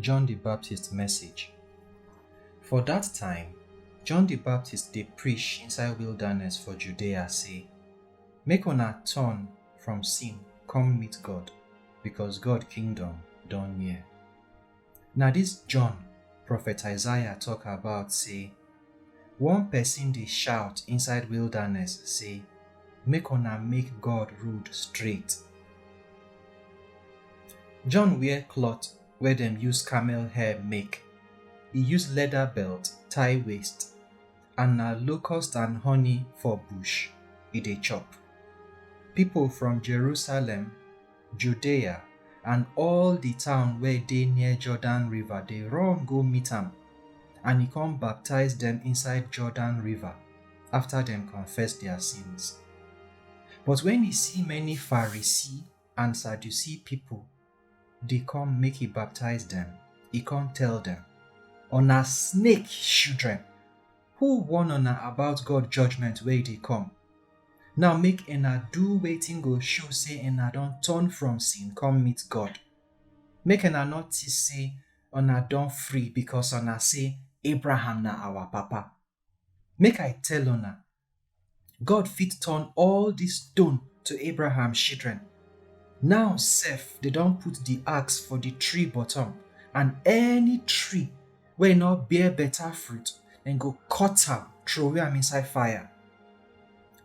John the Baptist message. For that time, John the Baptist dey preach inside wilderness for Judea say, Make una turn from sin come meet God, because God kingdom don near. Na this John prophet Isaiah talk about say One pesin dey shout inside wilderness say, Make una make God road straight. John wear cloth wey dem use camel hair make, e use leather belt tie waist, and na locust and honey for bush e dey chop. Pipo from Jerusalem, Judea, and all the town where dey near Jordan river dey run go meet am, and he come baptize them inside Jordan river after them confess their sins. But when he see many Pharisee and Sadducee people dey come make he baptize them, he come tell them, Una snake children, who warn una about God judgment wey dey come? Now make una do wetin go show say una don turn from sin come meet God. Make una no think say una don free because una say Abraham na our papa. Make I tell una, God fit turn all dis stone to Abraham children. Now sef dey don put di axe for di tree bottom and any tree wey no bear better fruit, dem go cut am, throway am inside fire.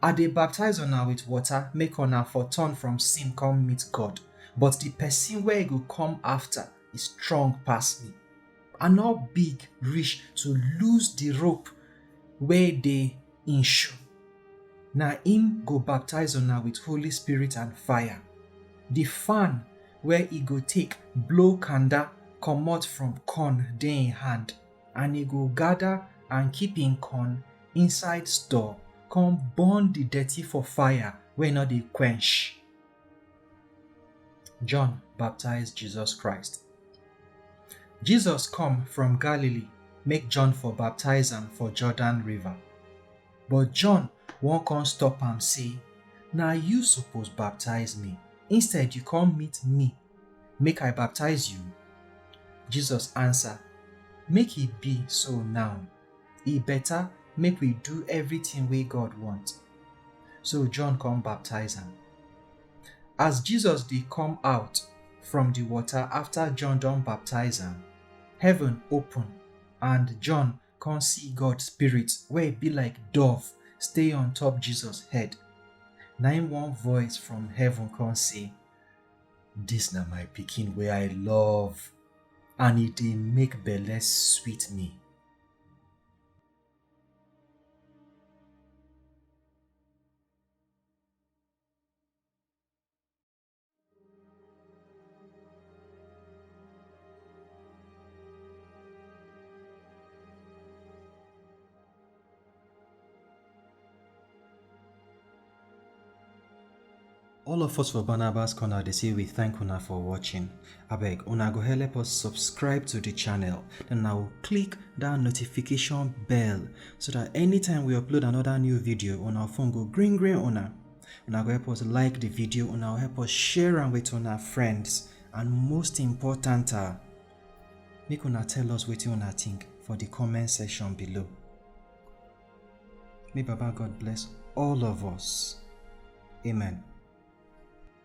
I dey baptize una with water make una for turn from sin come meet God, but the person wey go come after e strong pass me. I no big reach to lose the rope wey dey im shoe. Na im go baptize una with Holy Spirit and fire. The fan wey e go take blow kanda comot from corn dey hin hand and e go gather and keep hin corn inside store come burn the dirty for fire wey no dey quench. John baptize Jesus Christ. Jesus come from Galilee make John for baptize am for Jordan river. But John wan come stop am say, Na you suppose baptize me, instead you come meet me make I baptize you? Jesus answer, Make e be so now. E better make we do everything wey God want. So John come baptize am. As Jesus dey come out from the water after John don baptize am, heaven open and John Come see God spirit where it be like dove stay on top Jesus head. Na im one voice from heaven come say, This na my pikin where I love and it dey make belle sweet me. all of us for barnabas corner dey say we thank una for watching abeg una go help us subscribe to the channel then na go click that notification bell so that anytime we upload another new video una phone go green green una una go help us like the video una go help us share am with una friends and most important ah make una tell us wetin una think for the comment section below may baba god bless all of us amen